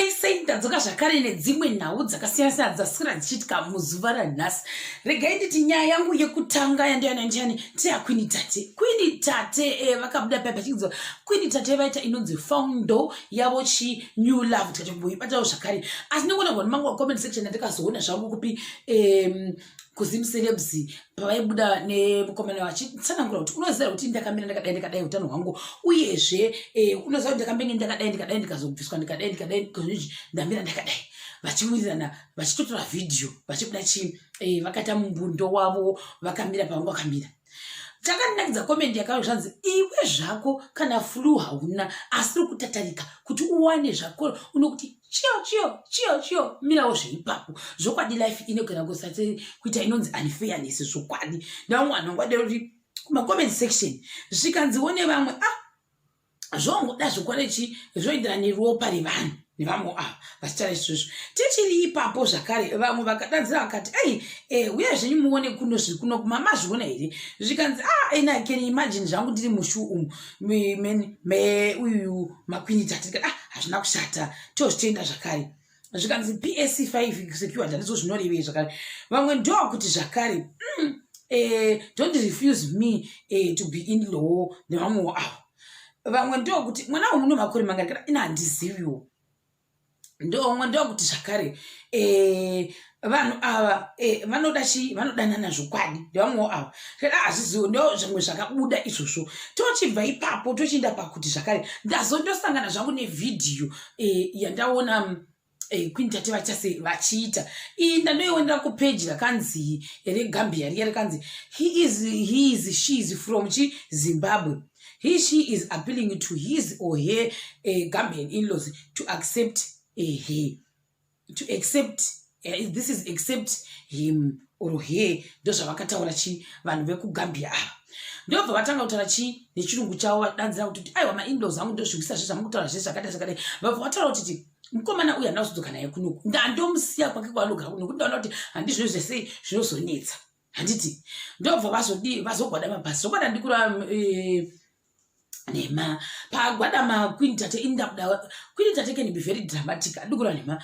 esei ndadzoka zvakare nedzimwe nhau dzakasiyana siyana dzasikira dzichiitika muzuva ranhasi regai nditi nyaya yangu yekutanga yandiyana ndiani teakwini tate kwini tate eh, vakabuda e, paya pachinziwa kwini tate vaita inonzi foundo yavo chi new love tikati mboibatawo zvakare asi ndikuona vanhu mangu comment section andikazoona zvangu kupi um, kuzim celebs pavaibuda nemukomana vachitsanangura kuti unoziva kuti ndakamira ndakadai ndikadai utano hwangu uyezve eh, unoziva kuti ndakambenge ndakadai ndikadai ndikazobviswa ndikadai ndikadai ndikazii ndamira ndakadai vachiwirirana vachitotora vhidhiyo vachibuda chii eh, vakata mumbundo wavo vakamira pavanga vakamira chakandinakidza komendi yakauya zvanzi iwe zvako kana flu hauna asi uri kutatarika kuti uwane zvako unokuti chiyo chiyo chiyo chiyo mirawo zveipapo zvokwadi life inogara kusati kuita inonzi unfairness zvokwadi ndavamwe vanhu vangwadero kuti kumacomment section zvikanziwo nevamwe ah zvongoda zvokwadi chi zvoenderana neropa revanhu nevamwe ava vachitaura izvozvo tichiri ipapo zvakare vamwe vakadanzira vakati ei eh, uya zvenyu muone kuno zviri kuno kumama zviona here zvikanzi a ah, ina can imagine zvangu ndiri mushu umu me uyu makwinita tirikati ah hazvina kushata tozvitenda zvakare zvikanzi psc 5 secured handizvo zvinorevei zvakare vamwe ndovakuti zvakare mm, eh, don't refuse me eh, to be in law nevamwewo avo vamwe ndovakuti mwana umu no makore mangarikana ina handiziviwo ndoumwe ndokuti zvakare eh, vanhu ava eh, vanoda eh, chii vanodanana zvokwadi ndevamwewo ava tera hazvizivo ndo zvimwe zvakabuda izvozvo tochibva ipapo tochienda pakuti zvakare ndazondosangana zvangu nevhidhiyo eh, yandaona mm, eh, queen tate vachase vachiita iyi ndandoionera kupeji rakanzi regambia riya rikanzi he is, he is she is from chi zimbabwe he she is appealing to his or her eh, gambian inlaws to accept eh, her to accept eh, this is accept him or her ndozvavakataura chii vanhu vekugambia ava ndobva vatanga kutaura chii nechirungu chavo vadanzira kutoti aiwa maindos angu ndozviwisa zve zvamukutaura zve zvakadai zvakadai vabva vataura kutiti mukomana uyu handina kuzodzoka naye kunoku ndandomusiya kwake kwaanogara kunoku ndaona kuti handizvo zvese zvinozonetsa handiti ndobva vazodii vazogwada mabhasi zvokwada ndikura eh, nhema pagwada makwini tate ini ndakuda kwini tate can be very dramatic andikura nhema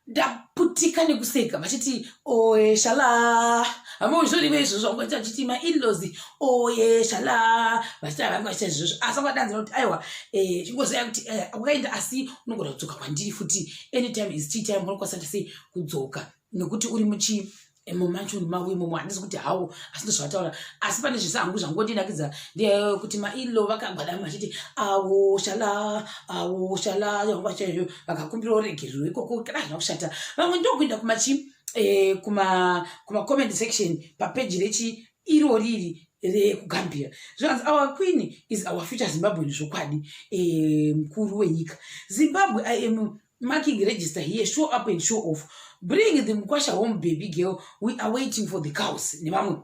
ndaputika nekuseka vachiti oye shala hamuzvorive izvo zvangoita vachiti mainlos oye shala vachiti havai vaita izvozvo asi kwadanzira kuti aiwa eh, chingoziva kuti eh, wakaenda asi unogona kudzoka kwandiri futi anytime is tea time unokwasanisa sei kudzoka nekuti uri muchi imo mansion mavo imomo handisi kuti hawo asi ndozvataura asi pane zvese hangu zvangondinakidza ndeyekuti mailo vakagwadama vachiti awo shala awo shala yangwa chaizvo vakakumbira uregerero ikoko kana hazvina kushata vamwe ndokuenda kumachi eh, kuma kuma comment section papeji rechi iro riri rekugambira zvikanzi our queen is our future zimbabwean zvokwadi eh, mukuru wenyika zimbabwe im marking register here show up and show off bring the mukwasha home baby girl we are waiting for the cows nevamwe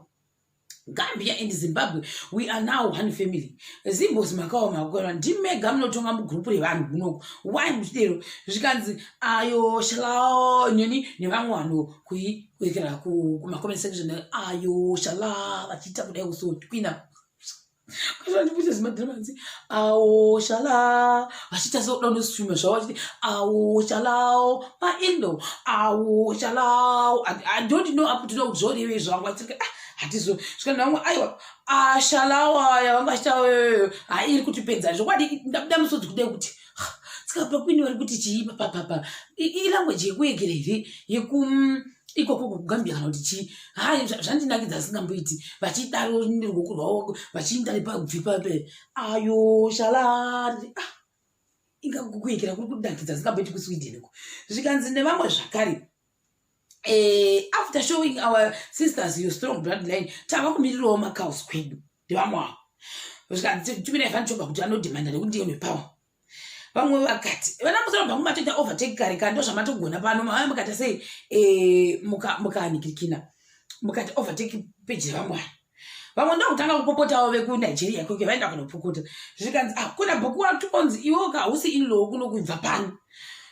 gambia and zimbabwe we are now one family zimbos makawa makukwana ndimega munotonga mugrupu revanhu kunoku why muchidero zvikanzi ayo shalao nyoni nevamwe vanhu kuiwekera kumacoment section ayo shalaa vachiita kudai kusoti kuina zvimadhiramanzi awo shalaa vachiita sekuda unoswima zvavo vachiti awo shalawo maindo awo shalawo i don't know up to now kuti zvorevei zvangu vatirika ah, hatizo zvikanzi vamwe aiwa ashalawo ah, aya vanga achitawo hairi kutipedza zvokwadi ndabuda musodzi kudei kuti ska pakwini vari kuti chii papapapa ilanguage yekuegera here yeku mm, ikoko kugambia kana kuti chii hai zvandinakidza asingamboiti vachidaro neruoko rwavo vachiinda nepabvi pape ayo shalari ah, inga kukuekera kuri kunakidza asingamboiti kusweden ko zvikanzi nevamwe zvakare eh, after showing our sisters your strong blood line tava kumirirawo macaus kwedu ndevamwe avo zvikanzi tumi naivan choga kuti anodhimanda nekuti ndiye nepower vamwe vakati vana musoro bhangu matoita overtake kare kare ndo zvamatogona pano mava mukati sei eh, mukahanikirikina mukati overtake peji vamwe ava vamwe ndokutanga kupopotawo vekunigeria koke vaenda kunopukuta zvikanzi ah, kuna bhuku watu onzi iwo ka hausi inlow kunokubva pano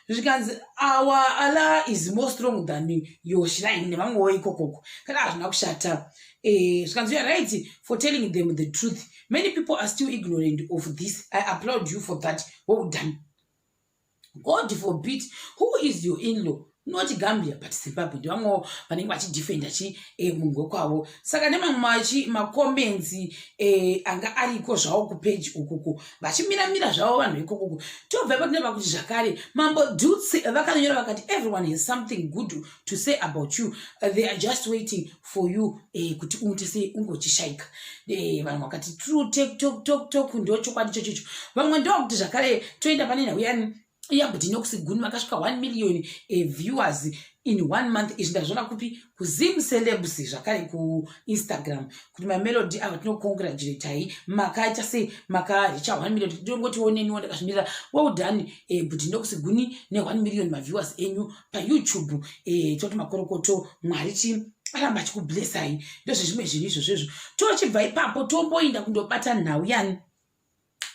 zvikanzi awa ala is more strong than yoshiraini nevamwewo ikokoko kana hazvina kushata Eh, zvikanzi you're right for telling them the truth many people are still ignorant of this i applaud you for that well done god forbid who is your inlaw not gambia but zimbabwe ndivamwewo vanenge vachidefenda chi e, munhu wekwavo saka nemamwe machi macomments e, anga ariko zvavo kupeji ukuku vachimiramira zvavo vanhu vekukuku tobva patine vakuti zvakare mambo duts vakanyora vakati everyone has something good to say about you they are just waiting for you eh, kuti ungoite sei ungochishaika eh, vamwe vakati true take talk talk talk ndo chokwadi chochocho vamwe ndo vakuti zvakare toenda pane nhau yani yabudi nokusiguni vakasvika 1 million eh, viewers in one month izvi ndazviona kupi kuzim celebs zvakare kuinstagram kuti mamelody ava tinocongratulatai makaita sei makaricha 1 million ndongotioneniwo ndakazvimirira well done eh, budi nokusiguni ne 1 million maviewers enyu payoutube eh, toti makorokoto mwari chi aramba achikublessai ndozvezvimwe zvinhu izvozvo izvo tochibva ipapo tomboinda kundobata nhau yani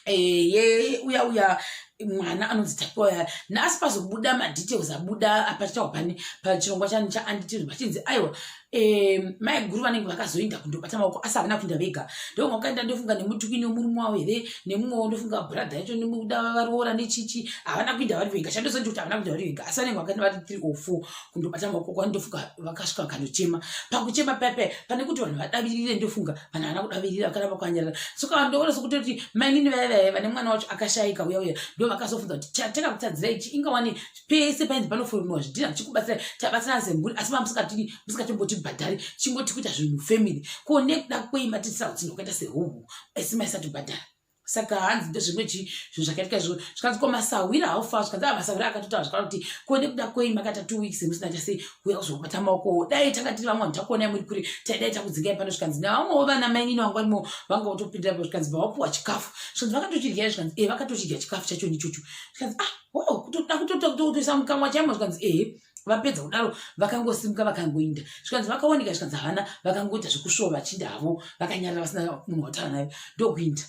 eh, ye uya uya mwana anonzi tapiwa ya nhasi pazobuda madetails abuda apachitawa pani pachirongwa chani chaanditiz vachinzi aiwa Eh, mai guru vanenge vakazoinda kundobata maoko asi havana kuinda vega ndovanga vakaenda ndofunga nemutukwini wemurume wavo here nemumwe wo ndofunga brother yacho nemuda varoora nechichi havana kuinda vari vega chandozondi kuti havana kuinda vari vega asi vanenge vakaenda vari three or four kundobata maoko kwani ndofunga vakasvika vakanochema pakuchema pepe pane kuti vanhu vadavirire ndofunga vanhu havana kudavirira vakaramba kwanyarara soka ndoona sokuti kuti mainini vaya vaya vane mwana wacho akashaika uya uya ndo vakazofunza kuti chateka kutadzirai chi ingawani pese painzi panofonwa zvidhina tichikubatsira tabatsirana semhuri asi ma musikatombotibhadhari chingoti kuita zvinhu family ko nekuda kwei matiitisa utsinho kwakaita sehuhu asi maisatibhadhara saka hanzi ndezvimwe chii zvinhu zvakaitika izvo zvikanzi ko masahwira haufa zvikanzi a ah, masahwira akatotaura zvakana kuti ko nekuda kwei makaita two weeks musina chasei kuuya kuzokubata maokowo dai tanga tiri vamwe vanhu takuonai muri kure taidai takudzingai pano zvikanzi navamwewo vana mainini vangu vanimo vanga votopindirapo zvikanzi bva wapuwa chikafu zvikanzi vakatochidya zvikanzi e eh, vakatochidya chikafu chachoni ichocho zvikanzi ah oh kutoda kutoisa mukamwa chaimo zvikanzi ehe vapedza kudaro vakangosimuka vakangoinda zvikanzi vakaoneka zvikanzi havana vakangoita zvekusvova vachinda havo vakanyarira vasina munhu wataura naye ndokuinda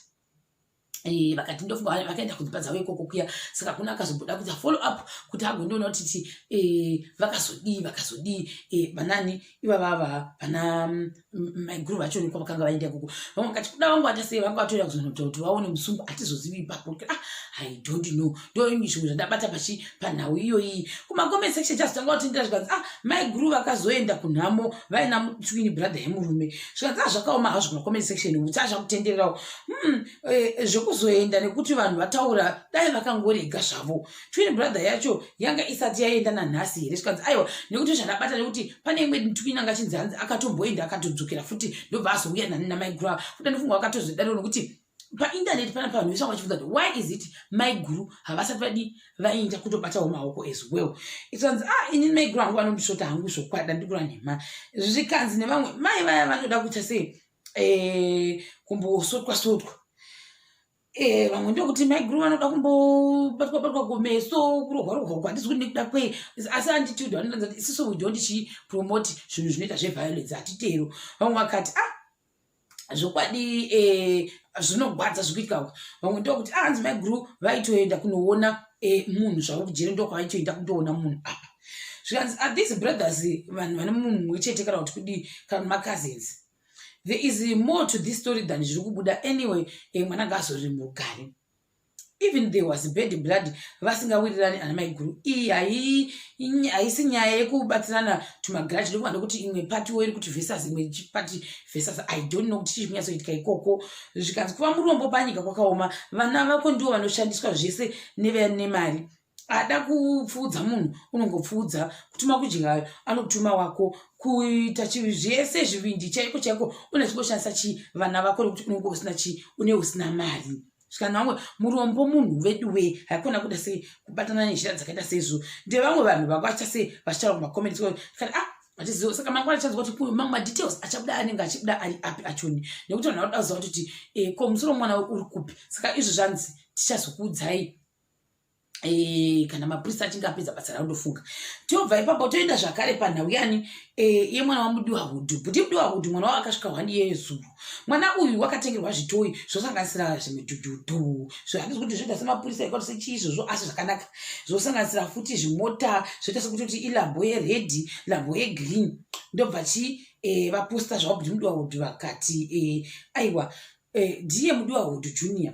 eh, vakati ndofunga vakaenda kudzimba dzavo ikoko kuya saka kuna akazobuda kuita follow up kuti agondiona kuti eh, vakazodii vakazodii eh, vanani ivava vava vana mm, mm, maiguru vacho nikwa vakanga vaenda ikoko vamwe vakati kuda vangu vata sei vanga vatoenda kuzonota kuti vaone musungu hatizozivi ipapo ah, i don't know ndoingi zvimwe zvandabata pachi panhau iyoyi kumacomment section chazotanga kutindira zvikanzi ah maiguru vakazoenda kunhamo vaina mutwini brother yemurume zvikanzi ah zvakaoma hazvo kumacomment section kuti azvakutendererawo hmm, eh, zvekuzoenda nekuti vanhu vataura dai vakangorega zvavo twin brother yacho yanga isati yaenda nanhasi here zvikanzi aiwa nekuti zvandabata nekuti pane imwe twin anga chinzi hanzi akatomboenda akatodzokera futi ndobva azouya nani namaiguru ava futi andifunga wakatozodaro nekuti paindaneti pana pavanhu vese vanga vachibvunza kuti why is it maiguru havasati vadi vainda kutobatawo maoko as well ikanzi ah ini maiguru hangu vanondisvota hangu zvokwada ndikura nhema zvikanzi nevamwe mai vaya vanoda kuita sei eh, kumbosotwa sotwa Eh, vamwe ndokuti maiguru vanoda kumbobatwa batwa kumeso kurohwa rohwa uko handisi kuti nekuda kwei asi anditude vanotanza kuti isiso we don't chi promote zvinhu zvinoita zveviolence hatitero vamwe vakati ah zvokwadi eh, zvinogwadza zvikuitika uko vamwe ndokuti ah hanzi maiguru vaitoenda kunoona eh, munhu zvavo kujere ndokwavaitoenda kutoona munhu apa zvikanzi are ah, these brothers vanhu vane munhu mumwe chete kana kuti kudii kana macousins there is more to this story than zviri kubuda anyway e, mwana ngaazoriri murugare even there was bad blood vasingawirirani ana maiguru iyi hai haisi nyaya yekubatsirana tumagaraji ndokuma ndokuti imwe pati wo iri kuti vesas imwe pati vesas i don't know kuti chii chikunyasoitika ikoko zvikanzi kuva murombo panyika kwakaoma vana vako ndivo vanoshandiswa zvese nevane mari ada kupfuudza munhu unongopfuudza kutuma kudya anotuma wako kuita chivi zvese zvivindi chaiko chaiko une zvingoshandisa chii vana vako nekuti unenge usina chii une usina mari zvikanzi vamwe murombo munhu vedu wee haikona kuda sei kubatana nezhira dzakaita seizvo ndevamwe vanhu vanga vachiita sei vachitaura kumacomments kani a ah, vatiziva saka mangwana achanzwa kuti kuyo mamwe madetails achabuda anenge achibuda ari api achoni nekuti vanhu vakuda kuziva kuti eh, ko musoro mwana uri kupi saka izvo zvanzi tichazokuudzai Eh, kana mapurisa achinge apedza basa ravo ndofunga tobva ipapo toenda zvakare panhau yani eh, iye mwana wamudiwa hudhu buti mudiwa hudhu mwana wavo akasvika hwani iye zuru mwana uyu wakatengerwa zvitoyi zvosanganisira zvimidhudhudhu zvahandizi kuti zvoita semapurisa ekuti sechii izvozvo asi zvakanaka zvosanganisira futi zvimota zvoita sekuti kuti ilambo yeredhi lambo yegreen ndobva chi eh, vaposta zvavo buti mudiwa hudhu vakati aiwa ndiye mudiwa hudhu junior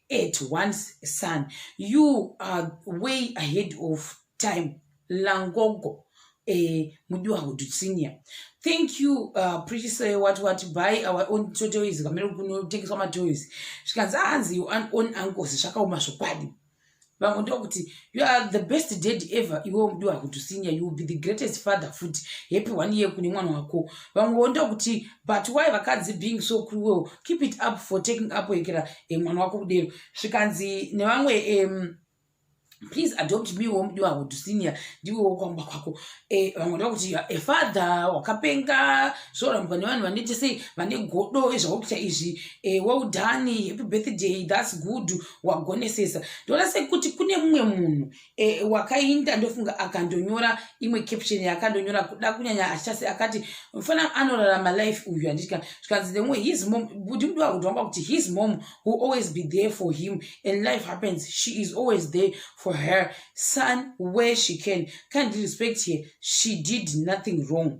at once son you are way ahead of time langogo eh, mudiwa hudutsinia thank you uh, pritise wat wat by our own totoys kamere kunotengeswa matoys zvikanzi hanzi you own uncles zvakaoma zvokwadi vamwe ndokuti you are the best dad ever iwe mudiwa kutusinya you will be the greatest father futi happy one year kune mwana wako vamwewo ndokuti but why vakadzi being so cruel keep it up for taking up ekera e mwana wako kudero zvikanzi nevamwe um, please adopt me wo mudiwa kutusinya ndiwe wokwamba kwako e, vamwe ndokuti a father wakapenga zvorambwa nevanhu vanoite sei vane godo ezvakuita izvi e, well done happy birthday thats good wagonesesa ndoona sekuti kune mumwe munhu e, wakainda ndofunga akandonyora imwe caption yakandonyora kuda kunyanya achasi akati mfana anorarama life uyu anditika zvikanzi the way his mom kuti mudiwa kuti wanga kuti his mom will always be there for him and life happens she is always there for her son where she can can't respect her she did nothing wrong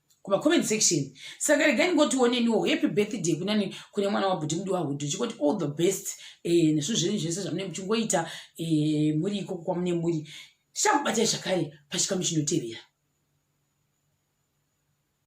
kuma comment section saka regai ndingotioneniwo happy birthday kunani kune mwana wabhuti mudi wahudhu chikoti all the best eh, nezvinhu zvenyu zvese zvamune muchingoita eh, muri ikoko kwamune muri tichakubatai zvakare pachikamu chinotevera